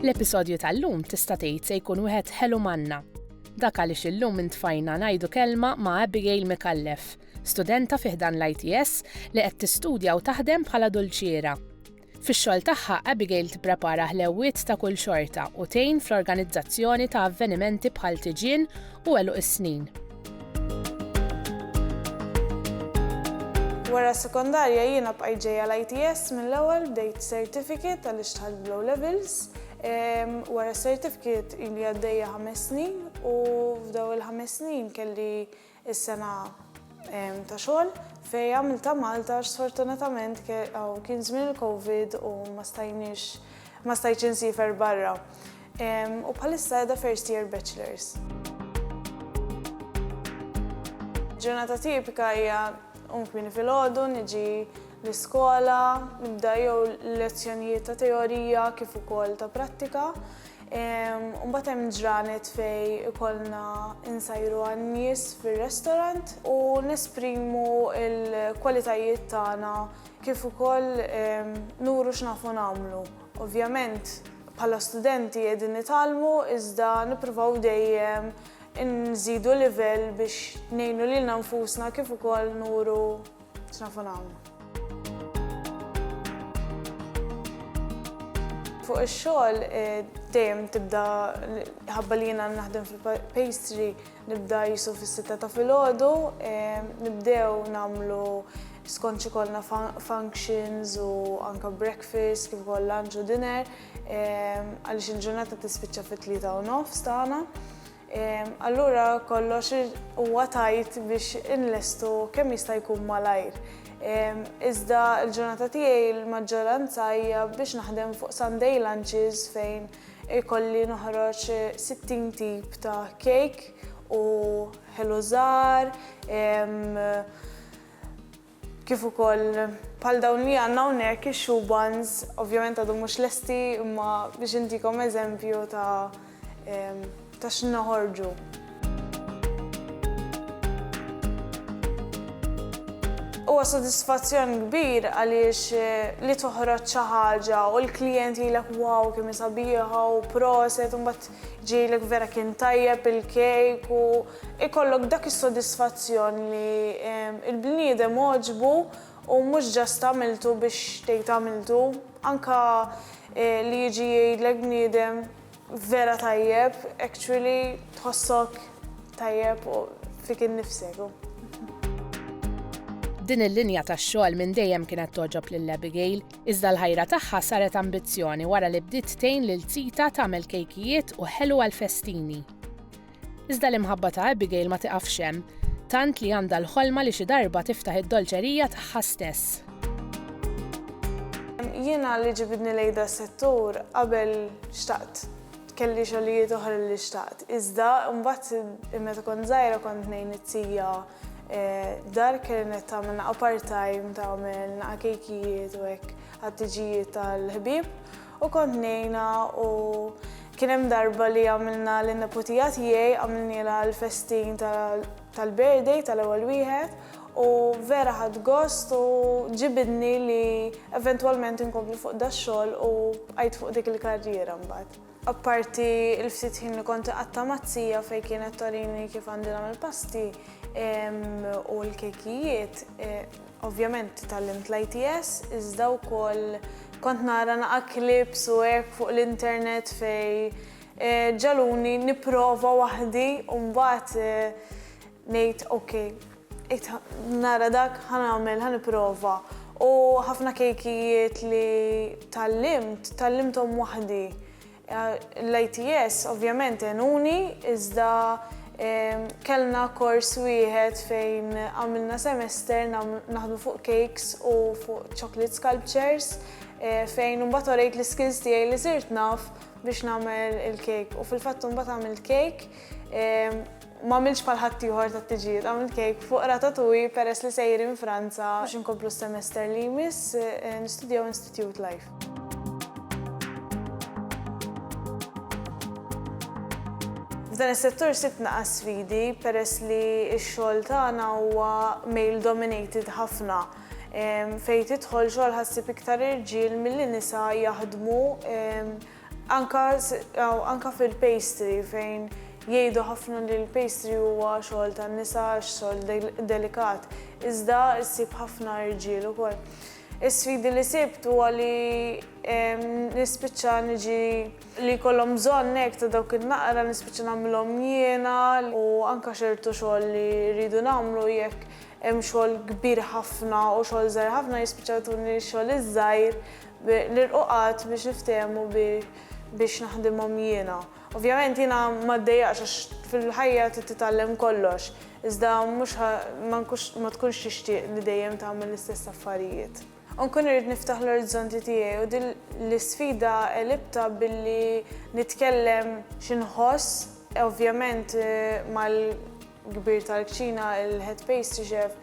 L-episodju tal-lum tista' tgħid se jkun wieħed ħelu manna. Dak għaliex illum intfajna ngħidu kelma ma' Abigail Mikallef, studenta fiħdan l-ITS li qed tistudja u taħdem bħala dulċiera. Fix-xogħol tagħha, Abigail tipprepara ħlewwiet ta' kull xorta u tgħin fl-organizzazzjoni ta' avvenimenti bħal tiġien u għeluq is-snin. Wara s-sekondarja jiena bqajt ġejja l-ITS mill-ewwel bdejt certificate għaliex dħalt b'low levels. Wara s-certificate ili għaddejja ħames snin u f'daw il-ħames snin kelli Is-sena ta' xogħol fej għamiltha Malta għax sfortunatament kien żmien il-Covid u ma stajniex ma stajtx insifer barra. U bħalissa qiegħda first year bachelors. Ġurnata tipika hija nqum kmieni filgħodu, niġi l-iskola, nibda jew lezzjonijiet ta' teorija kif ukoll ta' prattika. Mbagħad hemm ġranet fejn ikollna insajru għan-nies fir-restorant u nesprimu l-kwalitajiet tagħna kif ukoll nuru x'nafu nagħmlu. Ovvjament bħala studenti qegħdin nitgħallmu iżda nippruvaw dejjem inżidu livell biex ngħinu lilna nfusna kif ukoll nuru X'nafu nagħmlu? Fuq ix-xogħol eh, dejjem tibda ħabba li jiena naħdem fil-pastry nibda jisu fis-sitta ta' filgħodu, eh, nibdew nagħmlu skonċi kollna functions u anka breakfast kif ukoll lunch u dinner eh, għaliex il-ġurnata tispiċċa fit-tlieta u nofs tagħna. Allura kollox huwa tajt biex inlestu kemm jista' jkun malajr. Iżda l-ġurnata tiegħi l-maġġoranza hija biex naħdem fuq Sunday lunches fejn ikolli noħroġ 60 tip ta' cake u ħelu żgħar, Kif ukoll bħal dawn li għandna hawnhekk ix-shoe buns, ovvjament għadhom mhux lesti imma biex intikom eżempju ta' ta' x'inhu noħorġu. Huwa sodisfazzjon kbir għaliex li toħroġ xi ħaġa u l-klijent jgħidlek wow kemm hi sabiħa u proset u mbagħad ġejlek vera kien tajjeb il-kejk u Ikollok dak is-sodisfazzjon li l-bniedem għoġbu u mhux just għamiltu biex tgħid għamiltu, anke li jiġi jgħidlek bniedem vera tajjeb, actually tħossok tajjeb fik innifsek. Din il-linja tax-xogħol minn dejjem kienet togħġob lil Abigail, iżda l-ħajra tagħha saret ambizzjoni wara li bdiet tgħin lil tita tagħmel kejkijiet u ħelu għall-festini. Iżda l-imħabba ta' Abigail ma tiqafx hemm, tant li għandha l-ħolma li xi darba tiftaħ id-dolċerija tagħha stess. Jiena li ġibidni lejn da settur qabel xtaqt kelli xogħlijiet oħra li xtaqt. Iżda mbagħad meta kont żgħira kont ngħin it-tija eh, dar kienet tagħmel naqa' part-time tagħmel naqa' kejkijiet u hekk għat-tiġijiet tal-ħbieb. U kont ngħinha u kien hemm darba li għamilna lin-neputija tiegħi għamilnielha l-festin tal-birthday tal-ewwel wieħed u vera ħadt gost u ġibidni li eventwalment inkompli fuq dax-xogħol u bqajt fuq dik il-karriera mbagħad. Apparti l-ftit ħin li kont iqatta' mat-tija fejn kienet torini kif għandi nagħmel pasti u l-kejkijiet, Ovvjament tgħallimt l-ITS iżda wkoll kont nara naqa' clips u hekk fuq l-internet fejn ġagħluni nipprova waħdi u mbagħad ngħid ok, qed nara dak ħa nagħmel, ħa nipprova. U ħafna kejkijiet li tgħallimt, tgħallimthom waħdi. L-ITS ovvjament għenuni iżda kellna kors wieħed fejn għamilna semester naħdmu fuq cakes u fuq chocolate sculptures eh, fejn imbagħad orejt l-skills tiegħi li sirt naf biex nagħmel il-cake u fil-fatt imbagħad għamil cake eh, M'għamiltx bħal ħaddieħor tat-tiġijiet, għamilt kejk fuq ratatouille peress li sejrin Franza biex inkomplu s-semester li jmiss nistudjaw Institute Life. F'dan is-settur sibt naqa' sfidi peress li x-xogħol tagħna huwa male dominated ħafna fejn tidħol xogħol ħassib iktar irġiel milli nisa jaħdmu Anke anke fil-pastry fejn jgħidu ħafna li l-pastry huwa xogħol tan-nisa għax xogħol delikat, iżda ssib ħafna irġiel ukoll. Is-sfidi li sibt huwa li nispiċċa niġi li jkollhom bżonn hekk ta' dawk in-naqra nispiċċa nagħmilhom jiena u anke ċertu xogħol li rridu nagħmlu jekk hemm xogħol kbir ħafna u xogħol żgħir ħafna jispiċċaw jtuni x-xogħol iż-żgħir Nilqu qatt biex niftehmu biex naħdimhom jiena. Ovvjament jiena ma ddejjaqx għax fil-ħajja trid titgħallem kollox, iżda mhux ma tkunx tixtieq li dejjem tagħmel l-istess affarijiet. U nkun irrid niftaħ l-orizzonti tiegħi u din l-isfida għelibtha billi nitkellem xi nħoss, ovvjament mal. kbir tal-kċina, il-Head Pastry Chef,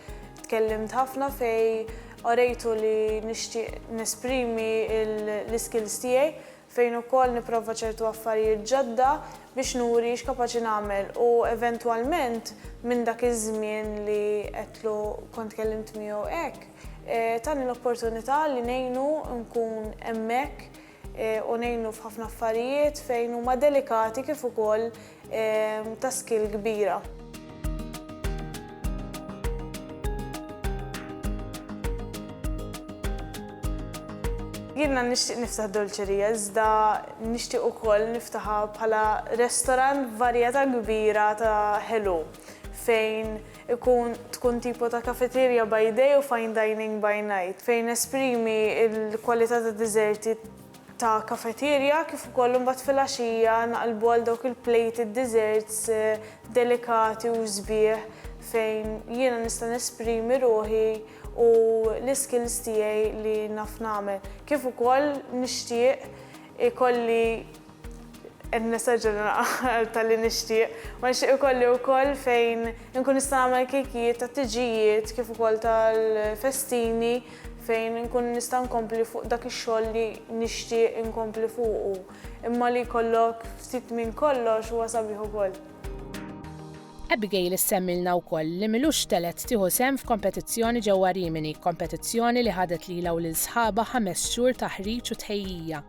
tkellimt ħafna fejn orejtu li nixtieq nesprimi l-iskills tiegħi, fejn ukoll nipprova ċertu affarijiet ġodda biex nuri x'kapaċi nagħmel u eventwalment minn dak iż-żmien li għedtlu kont tkellimt miegħu hekk, tani l-opportunità li ngħinu nkun hemmhekk u ngħinu f'ħafna affarijiet fejn huma delikati kif ukoll ta' skill kbira. Jiena nixtieq niftaħ dolċerija iżda nixtieq ukoll niftaħha bħala restorant b'varjetà kbira ta' ħelu fejn ikun tkun tipo ta' cafeteria by day u fine dining by night, fejn nesprimi l-kwalità ta' diżerti ta' cafeteria kif ukoll imbagħad filgħaxija naqlbu għal dawk il-plated desserts delikati u sbieħ fejn jiena nista' nesprimi ruħi u l-iskills tiegħi li naf nagħmel. Kif ukoll nixtieq ikolli Qed nessaġġa naqal tal-li nixtieq. Ma nixtieq ikolli wkoll fejn inkun nista' nagħmel kejkijiet tat-tiġijiet kif ukoll tal-festini fejn inkun nista' nkompli fuq dak ix-xogħol li nixtieq inkompli fuqu. Imma li jkollok ftit minn kollox huwa sabiħ ukoll. Abigail issemmilna wkoll li m'ilux telgħet tieħu sehem f'kompetizzjoni ġewwa Rimini, kompetizzjoni li ħadet lilha u lil sħabha ħames xhur taħriġ u tħejjija.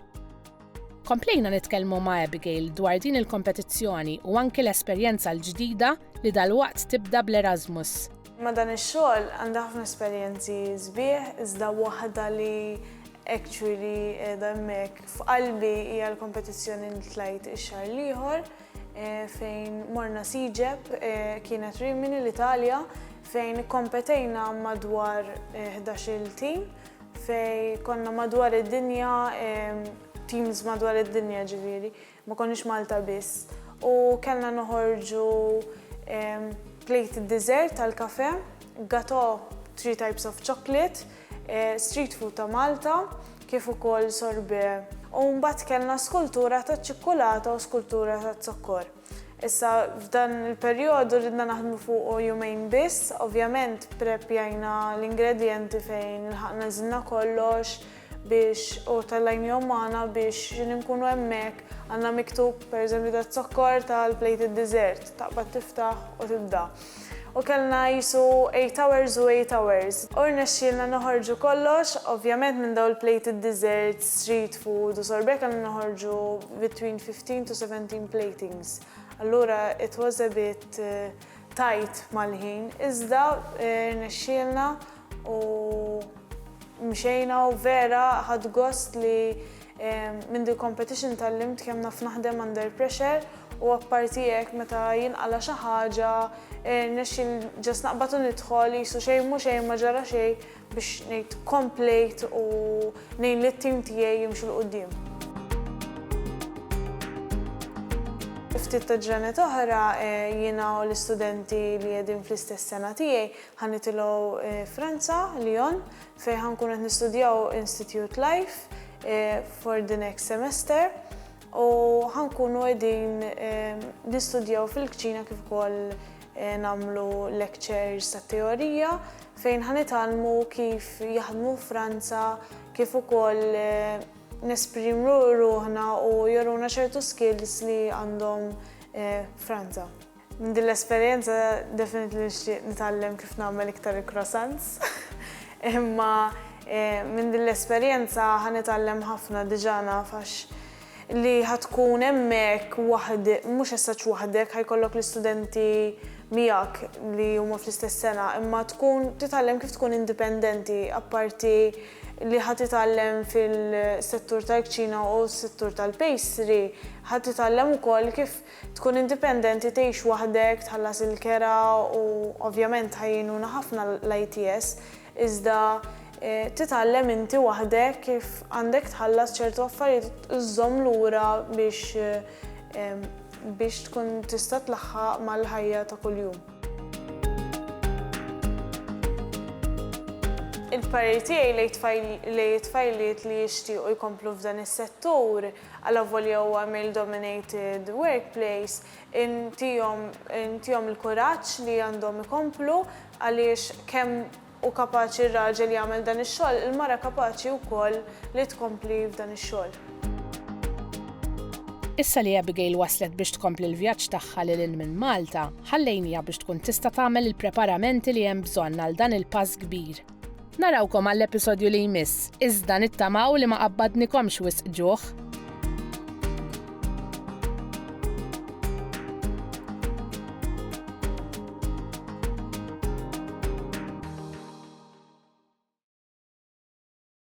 Komplejna nitkellmu ma' Abigail dwar din il-kompetizzjoni u anki l-esperjenza l-ġdida li dalwaqt tibda bl-Erasmus. Ma' dan ix-xogħol għandha ħafna esperjenzi sbieħ iżda waħda li actually qiegħda hemmhekk f'qalbi hija l-kompetizzjoni li tlajt ix-xahar l-ieħor fejn morna Siġeb, kienet Rimini l-Italja, fejn ikkompetejna madwar ħdax-il tim fej konna madwar id-dinja, teams madwar id-dinja ġiviri, ma konniex Malta biss. U kellna noħorġu plate dessert tal-kafe, gato three types of chocolate, eh, street food ta' Malta, kif ukoll sorbe. U mbagħad kellna skultura ta' ċikkulata u skultura ta' zokkor. Issa f'dan il-perjodu ridna naħdmu fuqu jumejn biss, ovvjament pprepjajna l-ingredjenti fejn ilħaqna għeżilna kollox biex u tellajnihom magħna biex x'in inkunu hemmhekk għandna miktub pereżempju daz-zokkor tal-plated dessert, taqbad tiftaħ u tibda. U kellna qisu eight hours u eight hours. U rnexxielna noħorġu kollox, ovvjament minn dawn il-plated desserts, street food u sorbet kellna noħorġu between fifteen to seventeen platings. Allura it was a bit tight mal-ħin, iżda rnexxielna. U mxejna u vera ħadt gost li minn dil-competition tgħallimt kemm naf naħdem under pressure u apparti hekk meta jinqala' xi ħaġa rnexxiel just naqbad u nidħol qisu xejn mhu xejn ma ġara xejn biex ngħid komplejt u ngħin lit-tim tiegħi jimxu 'l quddiem. Ftit ta' ġranet oħra jiena u l-istudenti li qegħdin fl-istess sena tiegħi Ħa nitilgħu Franza, Lyon, fejn ħa nkunu qed nistudjaw Institute Life for the next semester u ħa nkunu qegħdin nistudjaw fil-kċina kif ukoll nagħmlu lectures ta' teorija fejn ħa nitgħallmu kif jaħdmu Franza kif ukoll nesprimru ruħna u joruna ċertu skills li għandhom Franza. Minn din l-esperjenza definitely nixtieq nitgħallem kif nagħmel iktar il-croissants. Imma minn din l-esperjenza ħa nitgħallem ħafna diġà naf għax li ħa tkun hemmhekk waħd, mhux as such waħdek, ħa jkollok l-istudenti miegħek li huma fl-istess sena, imma tkun titgħallem kif tkun indipendenti apparti li ħa titgħallem fil-settur tal-kċina u s-settur tal-pastry, ħa titgħallem ukoll kif Tkun indipendenti, tgħix waħdek, tħallas il-kera u ovvjament tgħinuna ħafna l-ITS, iżda titgħallem inti waħdek kif għandek tħallas ċertu affarijiet u żżomm lura biex biex tkun tista' tlaħħaq mal-ħajja ta' kuljum. Il-parir tiegħi lejn it-tfajliet li jixtiequ jkomplu f'dan is-settur, Allavolja huwa male-dominated workplace, intihom intihom il-kuraġġ li għandhom ikomplu għaliex kemm hu kapaċi r-raġel jagħmel dan ix-xogħol, il-mara kapaċi wkoll li tkompli f'dan ix-xogħol. Issa li Abigail waslet biex tkompli l-vjaġġ tagħha lil hinn minn Malta, ħallejniha biex tkun tista' tagħmel il-preparamenti li hemm bżonn għal dan il-pass kbir. Narawkom għall-episodju li jmiss, iżda nittamaw li ma qabbadnikomx wisq ġuħ.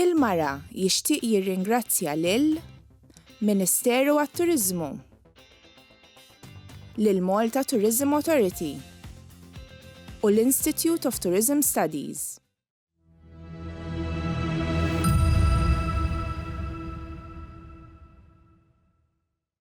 Il-Mara jixtieq jirringrazzja lil Ministeru għat-Turiżmu, lill-Malta Tourism Authority u l-Institute of Tourism Studies.